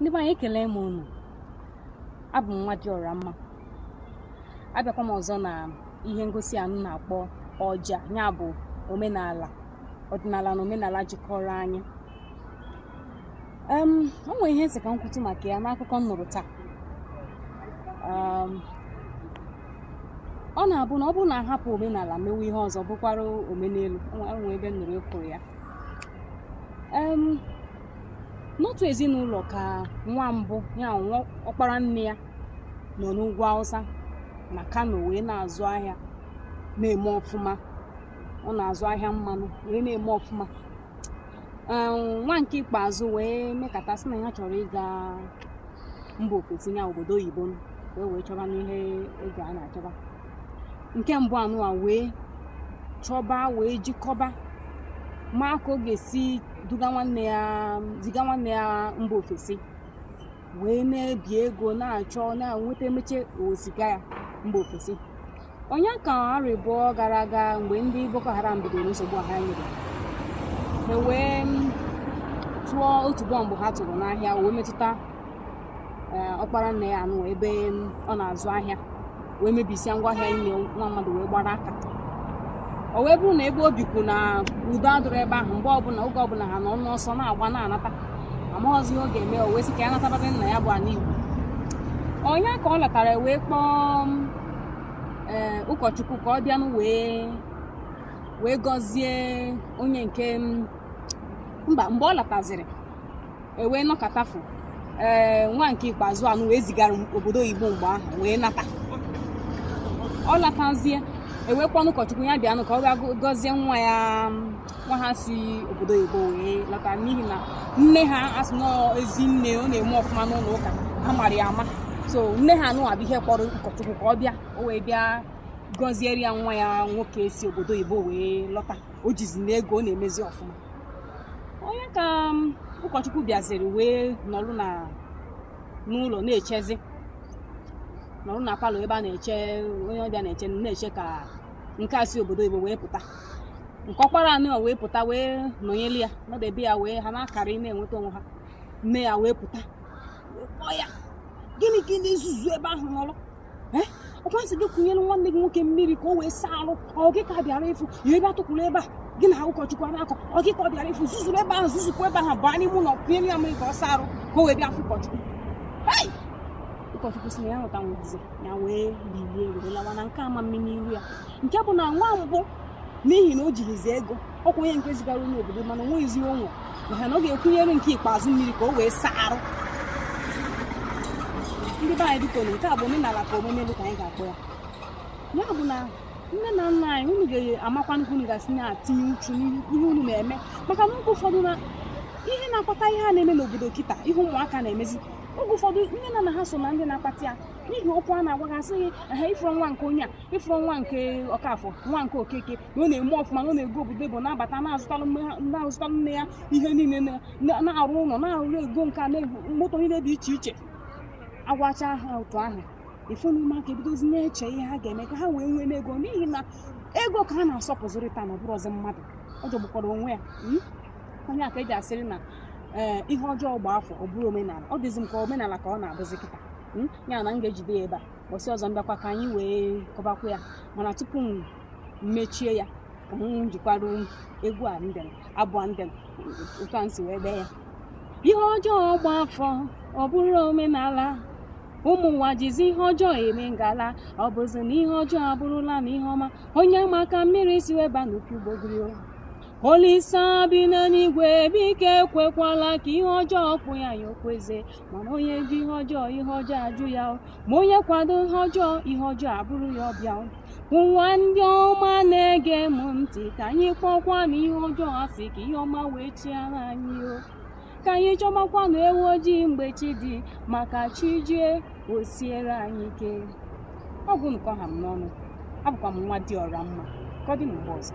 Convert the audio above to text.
ndị be anyị ekele m unu abụ m nwa dị ọra mma abịakwa m ọzọ na ihe ngosi a m na-akpọ ọja ya bụ omenala ọdịnala na omenala jikọrọ anyị um, o nwere ihe m sị ka m kwutu maka ya n'akụkọ m nụrụ taa um, ọ na-abụ na ọ bụrụ na a hapụ omenala mewe ihe ọzọ bụkwara omenelu nwee ebe m nụrụ e kwuru ya n'otu ezinụlọ ka nwa mbụ ya bụ ọkpara nne ya nọ n'ugwu awụsa na kano wee na-azụ ahịa na-eme ọfụma ọ na-azụ ahịa mmanụ wee na-eme ọfụma nwa nke ikpeazụ wee mekata sị na ya chọrọ ịga mba ofesi na obodo oyibo m e wee chọba n'ihe ego a na-achọba nke mbụ anụwa wee chọba wee jikọba ma ka ọ ga-esi duga nwanne ya ziga nwanne ya mba ofesi wee na-ebi ego na-achọ na-enweta e mechaa wee ziga ya mba ofesi ọ nya ka arọ abụọ gara aga mgbe ndị boko haram bidoro nsogbu ha nyere e wee tụọ otu bọmbụ ha tụrụ n'ahịa wee metụta e, ọkpara nne ya anụ ebe ọ na-azụ ahịa wee mebisia ngwa ahịa niine nwa mmadụ wee gbara aka o wee bụrụ na ebe o bikwu na udo adụrụ ebe ahụ mgbe ọbụla oge ọbụla ha nọ n'ọsọ na-agba na-anata amaghọzi ihe ọ ga-eme o wee sị ka ya nataba ana nna ya bụ ana igbo ọ nya ka ọ lọtara wee kpọọ ee ụkọchukwu ka ọ bịanụ wee wee gọzie onye nke m- mba mgbe ọ lataziri e wee nọkatafu ee nwa nke ikpeazụ anụwa e zigara obodo oyibo mgbe ahụ wee nata ọ latazie e wee kpọọnụ ụkọchukwu ya bịanụ ka ọ bịa gọzie nwa ya nwa ha si obodo oyibo wee lọta n'ihi na nne ha so na ezinne ọ na-eme ọfụma n'ụlọ ụka a mara ya ama so nne ha anụwa bụ ihe kpọrọ ụkọchukwu ka ọ bịa o wee bịa gọziere ya nwa ya nwoke si obodo oyibo wee lọta o jizinụ ego ọ na-emezi ọfụma ọ nya ka um, ụkọchukwu bịaziri wee nọrụ na n'ụlọ na-echezi nọrụ na palọ ebe a na-eche onye ọbịa na-eche na-eche ka nke a si obodo oyibo wee pụta nke ọkpara anụwa wee pụta wee nọnyelu ya nọdebe ya wee ha na-akarị na-enweta onwe ha nne ya wee pụta wee kpọọ ya gịnị ka ị na-ezuzu ebe ahụ nọrụ Eh? ọ kwa sị gị kunyere nwanne gị nwoke mmiri ka o wee saa arụ ọ gị ka a bịara ịfụ ị bịa tukwuru ebe a gị na ụkọchukwu ana-akọ ọ gị ka ọ bịara ịfụ zuzuru ebe ahụ zuzupụ ebe ahụ baa n'ime ụlọ kunyere ya mmiri ka ọ saa arụ ka o wee bịa fụ ụkọchukwu Hey! ụkọchukwu si na ya hụta nwazi ya wee bilie were lawa na nke anya mmiri n'iru ya nke bụ na nwa mbụ n'ihi na o jighizi ego ọkwa onye nke zigara onye obodo mana o nweghịzi onwe maka na ọ ga-ekunyere nke ikpeazụ mmiri ka o wee saa arụ ndị be anyị biko na nke a bụ omenala ka omume dị ka anyị ga-akpọ ya ya bụ na nne na nna anyị unu ga-amakwa nke unu ga-esi na-atinye uchu n'ihe unu na-eme maka na oge ụfọdụ na ihe na-akpata ihe a na-eme n'obodo kịta ihe ụmụaka na-emezi oge ụfọdụ nne na nna ha so na ndị na-akpata ya n'ihi okwu a na-agwa ha sị gị ha ị fụrụ nwa nke onye a ị fụrụ nwa nke ọkafọ nwa nke okeke na ọ na-eme ọfụma na ọ na-aga obodo oyibo na-abata na-azụtalụ nne ha- na-azụtalụ nne ya ihe niile na- na- na-arụ ụlọ na-arụ ego nka na-ego moto niile dị iche iche agwacha ha otu ahụ ị fụ na ụmụaka ebidozi na-eche ihe ha ga-eme ka ha wee nwee ego n'ihi na ego ka a na-asọpụzịrị taa ọ bụrọzị mmadụ ọ jọgbukwara onwe ya mm? ọ ya ka e ji asịrị na ee ihe ọjọọ gba afọ ọ bụrụ omenala ọ dịzi m ka omenala ka ọ na-abụzi kịta mm? ya na m ga-ejide ya ebe a ụbọchị ọzọ m bịakwa ka anyị wee kọbakwa ya mana tupu m mechie ya ka m jikwara egwu a mbịa abụ a mbịa otu a m si wee dee ya ihe ọjọọ gba afọ ọ bụrụ omenala ụmụ ụwa jizi ihe ọjọọ eme ngala ọ bụzi na ihe ọjọọ abụrụlanụ ihe ọma onye ma ka mmiri si wee baa n'opi ugbogiri olisa bi n'eluigwe biko ekwekwala ka ihe ọjọọ kpuo anyị okpueze mana onye jụ ihe ọjọọ ihe ọjọọ ajụ ya o. ma onye kwado ihe ọjọọ ihe ọjọọ abụrụ ya ọbịa o. ngwa ndị ọma na-ege m ntị ka anyị kpọọkwanụ ihe ọjọọ asị ka ihe ọma wee chịara anyị o ka anyị chọbakwanụ ewu ojii mgbe chi dị maka chi jie o siere anyị ike ọ bụnụ ka ọ ha m n'ọnụ abụkwa m nwadịọramma ka ọ dị mgbe ọzọ